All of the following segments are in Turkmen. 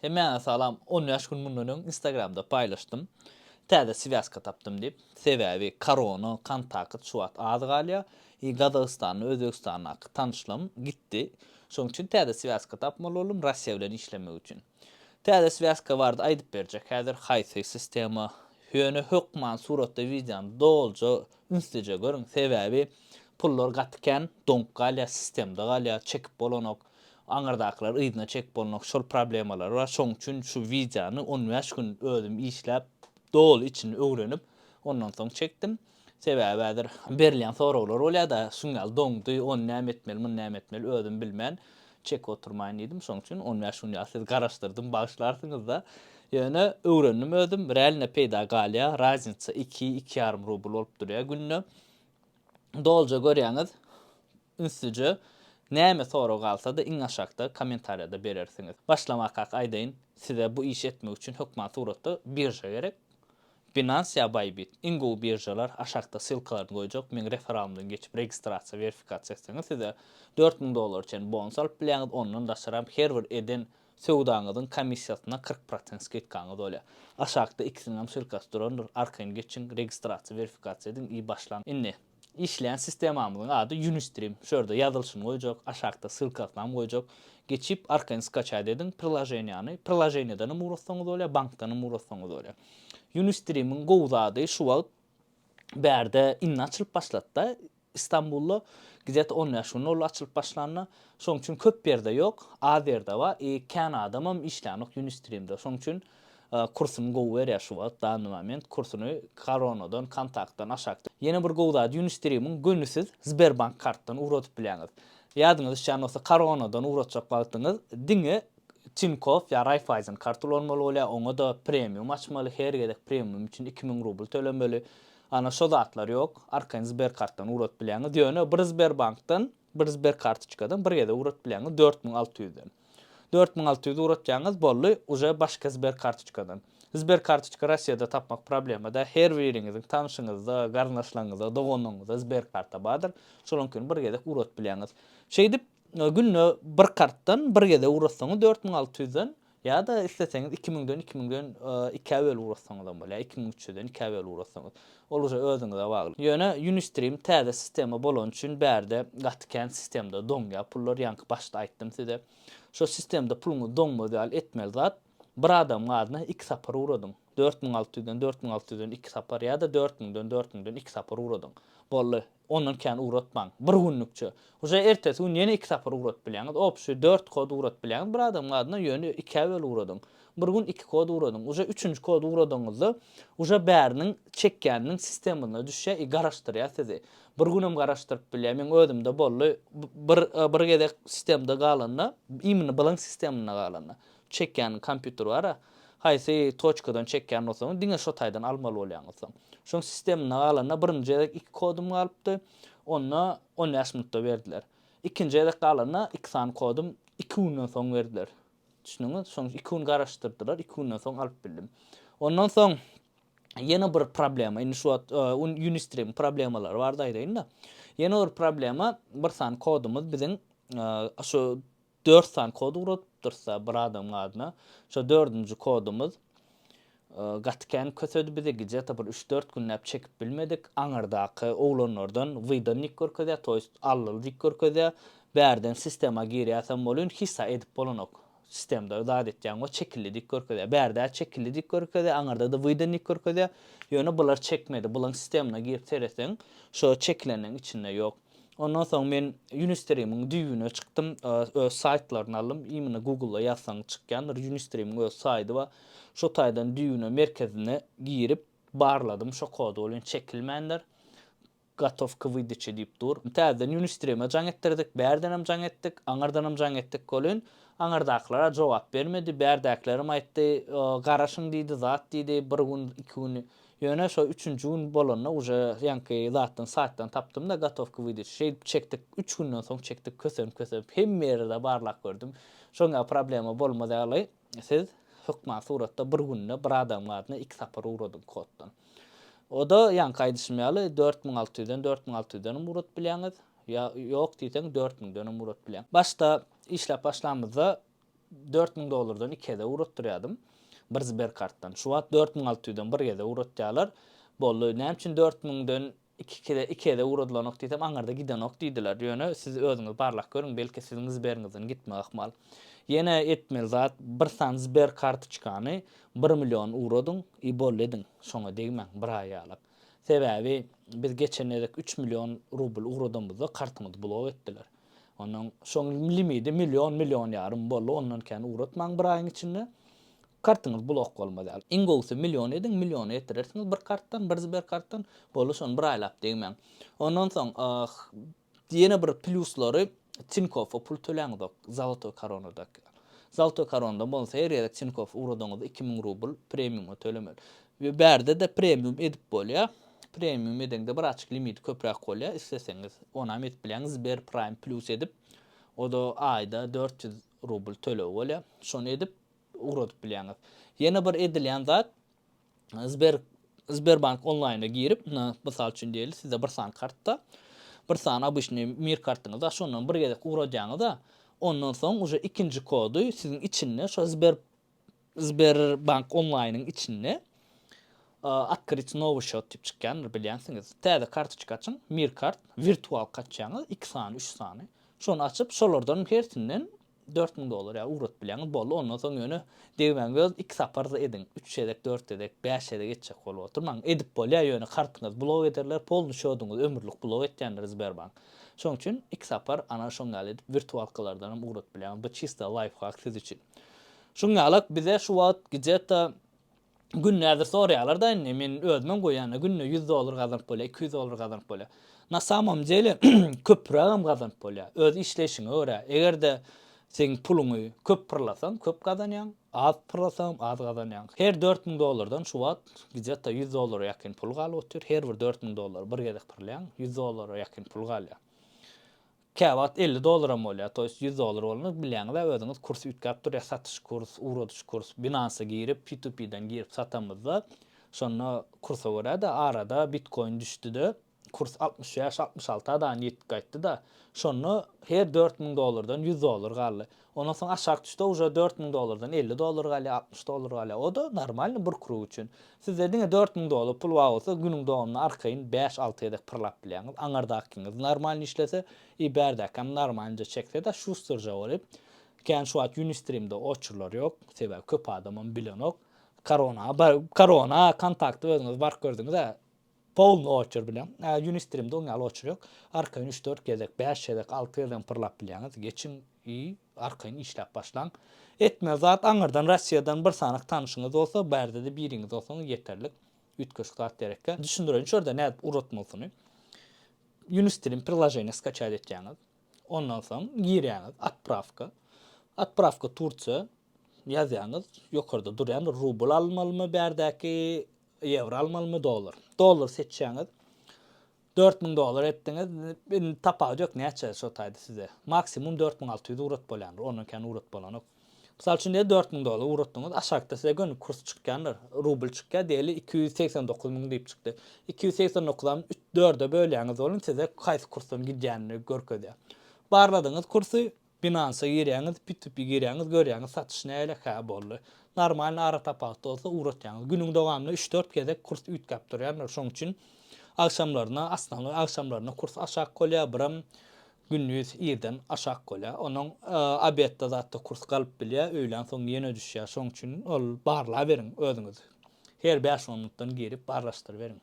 Hemmäňe salam, on bäş gün mundan öň instagramda paýlaşdym, täze swýazka tapdym diýip, sebäbi korona, kontakt şu wagt az galýa, i Gazagystanly, Özbegistandaky tanyşlygym gitdi, şoň üçin täze swýazka tapmaly boldum Russiýa bilen işlemek üçin. Täze swýazka barada aýdyp berjek häzir haýsy sistema, ýöne hökman suratda wideony doluja ünslijeý görüň, sebäbi pullar gaty kän, doňup galýa, sistemda galýa, çekip bolanok. Aňyrdakylar yzyna çekip bolmok şol problemalary bar şoň üçin şu wideony on bäş gün özüm işläp doly içini öwrenip ondan soň çekdim sebäbi häzir berilýän soraglar bolýada şuň ýaly doňdy ony näme etmeli muny näme etmeli özüm bilmän çekip oturmaýyn diýdim şoň üçin on bäş gün ýaly sizi garaşdyrdym bagyşlarsyňyzda ýöne öwrendim özüm realno peýda galýa raznica iki iki ýarym rubl bolup durýa günde. Dolja görýäňiz ünslice näme sorag galsada iň aşakda komentarýada berersiňiz. Başlamakak aýdaýyn size bu işi etmek üçin hökman suratda birža gerek. Binance ýa Bybit iň gowy biržalar aşakda ssylkalaryny goýjak meň referalymdan geçip registrasiýa verifikasiýa etseňiz size dört müň dollara çenli bonus alyp bilýäňiz ondan daşaram her bir eden Söwdaňyzyň komissiýasyna kyrk prosent skidkaňyz bolýar. Aşakda ikisiniňem syrkasy durandyr, arkaýyn geçiň, registrasiýa, werifikasiýa ediň i başlaň. Indi, işleýän sistemamyzyň ady Unistream. Şu ýerde ýazylyşyny goýjak, aşakda ssylkasynam goýjak. Geçip, arkaýyn skaçat ediň priloženiýany. Priloženiýadanam ugrassaňyz bolýar, bankdanam ugrassaňyz bolýar. Unistream-iň gowy zady şu wagt bärde indi açylyp başlady-da, Istanbulda gzet on bäş gün boldy açylyp başlanyna. Şoň üçin köp ýerde ýok. Az ýerde bar. I kän adamam işlänok Unistream-de. Şoň üçin kursuny gowy berýär şu wagt, danny moment. Kursuny Koronadan, Kontaktdan aşakda. Ýene bir gowy zady Unistream-iň göni siz Sberbank kartdan ugradyp bilýäňiz. Ýadyňyza düşýän bolsa Koronadan ugratjak wagtyňyz diňe Tinkoff ýa Raiffeisen kart ulanmaly bolýar. Oňa-da premium açmaly. Her gezek premium üçin iki müň rubl tölemeli. Ana şo zatlar ýok, arkaýyn Sberkartdan ugrat bilýäňiz, ýöne bir Sberbankdan, bir Sberkartoçkadan bir gezek ugrat bilýäňiz dört müň alty ýüzden. Dört müň alty ýüz ugratýaňyz, boldy, uje başga Sberkartoçkadan. Sberkartoçka Rossiýada tapmak problema däl, her biriňiziň tanşyňyzda, garyndaşlaryňyzda, doganyňyzda Sberkarta bardyr, şolaňkini bir gezek ugrat bilýäňiz. Şeýdip, günde bir kartdan bir gezek ugratsaňyz dört müň alty ýüzden, Ýa-da isleseňiz iki müňden iki müňden ikä bölüp ugratsaňyzam bolýar, iki müň üç ýüzden ikä bölüp ugratsaňyz. Ol uje özüňize bagly. Ýöne Unistream täze sistema bolany üçin bärde gaty kän sistemda doňýar pullar, ýaňky başda aýtdym size. Şo sistemda puluňyz doňmaz ýaly etmeli zat, bir adamyň adyna iki sapar ugradyň, dört müň alty ýüzden dört müň alty ýüzden iki sapar ýa-da dört müňden dört müňden iki sapar ugradyň. Boldy. Ondan kän ugratmaň. Bir günlükçe. Uje ertesi gün ýene iki sapar ugradyp bilýäňiz. Obşi dört kod ugradyp bilýäňiz bir adamyň adyna, ýöne ikä bölüp ugradyň. Bir gün iki kod ugradyň. Uje üçünji kody ugradygyňyzda uje bäriniň çekýäniniň sistemasyna düşýär i garaşdyrýar sizi. Bir günem garaşdyryp bilýär. Meň özümde boldy. Bir bir gezek sistemde galanda, imini bylyň sisteminde galanda. çekýän kompýuter bar-a, haýsy toçkadan çekýän bolsaňyz, diňe şo taýdan almaly bolýaňyz soň. Şoň sisteminde galanda birinji gezek iki kodum galypdy, onda on bäş minutda berdiler. Ikinji gezek galanda iki sany kodum iki günden soň berdiler. Düşündiňiz? Şoň iki gün garaşdyrdylar, iki günden soň alyp bildim. Ondan soň ýene bir problema, indi şu wagt Unistream problemalary bardy aýdaýyn-da. Ýene bir problema, bir sany kodumyz biziň şu Dört sany kod ugradypdyrys-a bir adamyň adyna. Şo dördünji kodumyz gaty kän kösedi bizi, gije-de bir üç-dört günläp çekip bilmedik. Aňyrdaky oglanlardan wydannik görkezýär, to ýest allyldýk görkezýär. Bärden sistema girýäsem welin hisa edip bolanok. Sistemda zat etýäň we çekillidik görkezýär. Bärde-ä çekillidik görkezýär, aňyrda-da wydannik görkezýär. Ýöne bular çekmedi. Bulaň sistemyna girip seretseň, şo çekileniň içinde ýok. Ondan soň men Unistream-iň düýbüne çykdym, öz saýtlaryny aldym. Imini Google-da ýazsaňyz çykýandyr. Unistream-iň öz saýdy bar. Şo taýdan düýbüne, merkezine girip barladym. Şo kod welin çekilmändir. Gotow k wydaçe diýip dur. Täzeden Unistream-e jaň etdirdik. Bärdenem jaň etdik. Aňyrdanam jaň etdik welin, aňyrdakylar-a jogap bermedi. Bärdäkilerim aýtdy, garaşyň diýdi, zat diýdi. Bir gün, iki gün Ýöne şo üçünji gün bolanda uje ýaňky zatdan saýtdan tapdymda gotowka wydyş şeýdip çekdik üç günden soň çekdik kösenip kösenip hemme ýerde barlap gördüm şoň ýaly problema bolmaz ýaly siz hökman suratda bir günde bir adamyň adyna iki sapar ugradyň koddan oda ýaňky aýdyşym ýaly dört müň alty ýüzden dört müň alty ýüzdenem ugradyp bilýäňiz ýa ýok diýseň dört müňdenem ugradyp bilýäň başda işläp başlamyzda Dört müň dollardan iki gezek ugratdyrýadym. Bir Sberkartdan. Şu wagt dört müň alty ýüzden bir gezek ugratýarlar. Boldy, näme üçin dört müňden iki kizek iki gezek ugradylanok diýsem, aňyrda gidenok diýdiler. Ýöne siz özüňiz barlak görüň, belki siziň Sberiňizden gitme ahmal. Ýene etmeli zat, bir sany Sber kartoçkany bir million ugradyň i boldy ediň. Şoňa degmäň, bir aý ýalak. Sebäbi biz geçen gezek üç million rubl ugradamyzda kartymyzy blok etdiler. Onuň şoň limidi million, million ýarym boldy, ondan kän ugratmaň bir aýyň içinde. Kartyňyz blok bolmaz ýaly. Iň gowusy million ediň, milliona ýetirersiňiz bir kartdan, bir Sber kartdan, boldy şony bir aýlap degmäň. Ondan soň ýene bir plýuslary Tinkofa pul töläňzok, Zolotoý koronadaky. Zolotoý koronada bolsa her gezek Tinkofa ugradaňyzda iki müň rubl premiuma tölemeli. We bärde-de premium edip bolýa. Premium edeňde bir açyk limiti köpräk bolýa. Isleseňiz onam edip bilýäňiz Sber Prime Plus edip. Oda aýda dört ýüz rubl töleg bolýa. Şony edip ugradyp bilýäňiz. Ýene bir edilýän zat Sber Sberbank onlaýna girip, mysal üçin diýeli sizde bir sany kartda, bir sany obyçnyý mir kartyňyz bar, şondan bir gezek ugradýaňyz-a, ondan soň uje ikinji kody siziň içinde şo Sber Sberbank onlaýnyň içinde Otkryt nowy счёт diýip çykýandyr bilýänsiňiz. Täze kartoçka açyň, Mirkart, wirtualka açýaňyz, iki sany, üç sany. Şony açyp, şolardan hersinden dört müň dollar ýaly ugradyp bilýäňiz. Boldy, ondan soň ýöne degmäň göz, iki sapar-da ediň. Üç gezek, dört gezek, bäş gezek etjek bolup oturmaň. Edip bolýar, ýöne kartyňyzy blok ederler, polny şoduňyzy ömürlik blok etýändir Sberbank. Şoň üçin iki sapar ana şoň ýaly edip wirtualkalardanam ugradyp bilýäňiz. Bu çista laýfhak siz üçin. Şuň ýalak bize şu wagt gidjeta gün näzir sorýalarda indi men özümem goýýanda günde ýüz dollar gazanyp bolýa iki ýüz dollar gazanyp bolýa na samom dele köpürägem gazanyp bolýa öz işleýşiňe görä egerde seň puluňy köp pyrlasaň köp gazanýaň az pyrlasaňam az gazanýaň her dört müň dollardan şu wagt gidjeta ýüz dollara ýakyn pul galyp otyr her bir dört müň dollar bir gezek pyrlaýaň ýüz dollara ýakyn pul galýa Käwagt elli dollaram bolýar, to ýest ýüz dollar bolanda bilýäňizä özüňiz kurs üýtgäp durýar, satyş kurs, ugradyş kurs, binansa girip P2P-den girip satamyzda şonda kursa görä-de arada bitkoin düşdi-de kurs altmyş bäş, altmyş alta dan ýetip gaýtdy-da şonda her dört müň dollardan ýüz dollar galdy. Ondan soň aşak düşse uje dört müň dollardan elli dollar galýar, altmyş dollar galýar. O-da normalny bir krug üçin. Sizde diňe dört müň dollar pul bar bolsa, günüň dowamynda arkaýyn bäş, alty gezek pyrlap bilýäňiz. Aňyrdakyňyz normalny işlese, i bärdäkäm normalnje çekse-de, şusterja bolyp, kän şu wagt Unistream-de oçurlar ýok, sebäbi köp adamam bilenok. Korona, korona kontakty özüňiz baryp gördüňiz-ä. Polny oçur bilen, Unistream-de oň ýaly oçur ýok. Arkaýyn üç-dört gezek, bäş gezek, alty gezegem pyrlap bilýäňiz. Geçiň i arkaýyn işläp başlaň. Etmeli zat, aňyrdan Russiýadan bir sanak tanyşyňyz bolsa, bu erde-de biriňiz bolsaňyz ýeterlik. Üýtgeşik zat derekkä. Düşündireýin şu ýerde nädip uratmalysyny. Unistream priloženiýa skaçat etýäňiz. Ondan soň girýäňiz, Otprawka. Otprawka Tursiýa ýazýaňyz. Ýokarda durýan rubl almalymy bärdäki Ýewro almalymy dollar. Dollar seçýäňiz. Dört müň dollar etdiňiz. Indi tapawudy ýok näçe şo taýda size. Maksimum dört müň alty ýüz urat bolýandyr. Ondan kän urat bolanok. Mysal üçin diýeli dört müň dollar uratdyňyz. Aşakda size göni kurs çykýandyr. Rubl çykýar diýeli iki ýüz segsen dokuz müň diýip çykdy. Iki ýüz segsen dokuzam dörde bölýäňiz onuň size haýsy kursdan gidýänini görkezýär. Barladyňyz kursy. Binansa girýäňiz, P2P girýäňiz, görýäňiz satyş nälekä boldy. Normalny ara tapawut bolsa ugratýaňyz. Günüň dowamynda üç-dört gezek kurs üýtgäp durýandyr. Şoň üçin agşamlaryna, asnawy agşamlaryna kurs aşak bolýar, biram gündiz irden aşak bolýar. Onuň obedde zatda kurs galyp bilýär, öýlän soň ýene düşýär. Şoň üçin ol barlaberiň özüňiz. Her bäş-on minutdan girip barlaşdyryberiň.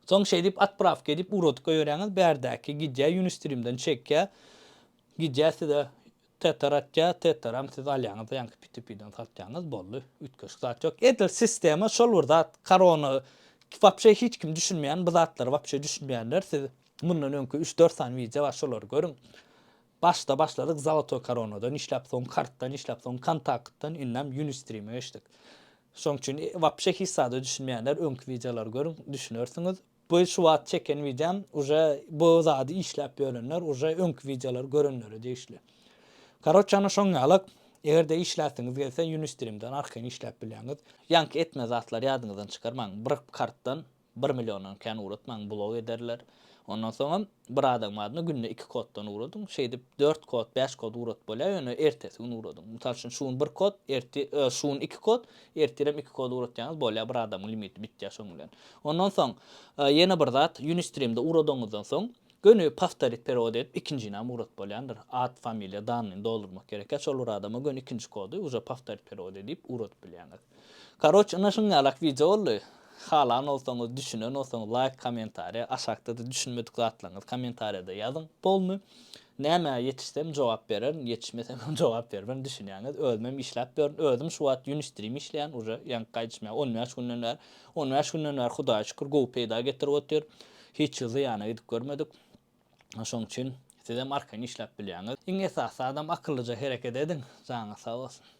Soň şeýdip otprawka edip ugradyp goýberýäňiz bärdäki gidýä ýunistrimden çekýä gidýä size tether atýa tetheram siz alýaňyzda ýaňky pitipiden satýaňyz boldy üýtgeşik zat ýok edil sistema şol bir zat karona wapşe hiç kim düşünmeýän bu zatlary wapşe düşünmeýänler siz mundan öňki üç dört sany wideo bar şolary görüň Başda başladyk Zolotoý koronadan işläp soň kartdan işläp soň kontaktdan indem Unistream-e geçdik. Şoň üçin wapşe hiç zada düşünmeýänler öňki wideolary görüň düşünersiňiz. Bu şu wagt çeken wideom uje bu zady işläp ýörenler uje öňki wideolary görenlere degişli. Karoçe ana şoň ýalak egerde işläsiňiz gelse Unistream-den arkaýyn işläp bilýäňiz. Ýaňky etme zatlary ýadyňyzdan çykarmaň. Bir kartdan Bir milliondan kän ugratmaň blok ederler. Ondan soňam bir adamyň adyna günde iki koddan ugradyň. Şeýdip dört kod, bäş kod ugrat bolýar, ýöne ertesi gün ugradyň. Mysal üçin şu gün bir kod, ertir, öö, şu gün iki kod, ertirem iki kod ugratýaňyz bolýar, bir adamyň limiti bitýär şoň bilen. Ondan soň ýene bir zat, Unistream-de ugradygyňyzdan soň göni powtorit perewod edip ikinjinäm ugrat bolýandyr. At, familiýa, dannyny doldurmak gerekýär. Şol bir adama göni ikinji kody uje powtorit perewod edip ugradyp bilýäňiz. Karoç ynha şuňňalak wideo boldy. Halan bolsaňyz, düşünen bolsaňyz laýk, kommentariýa, aşakda-da düşünmedik zatlaryňyzy kommentariýada ýazyň. Polny nämä ýetişsem jogap bererin, ýetişmesem hem jogap berberin düşünýäňiz. Özümem işläp ýörün. Özüm şu wagt ýün üstürim işleýän. Uje ýaňky gaýdyşymýa on bäş günden bäri. On bäş günden bäri Hudaýa şükür gowy peýda getirip otyr. Hiç ýyl zyýana gidip görmedik. Şoň üçin sizem arkaýyn işläp bilýäňiz. Iň esasy zadam akyllyja hereket ediň. Janyňyz sag bolsun.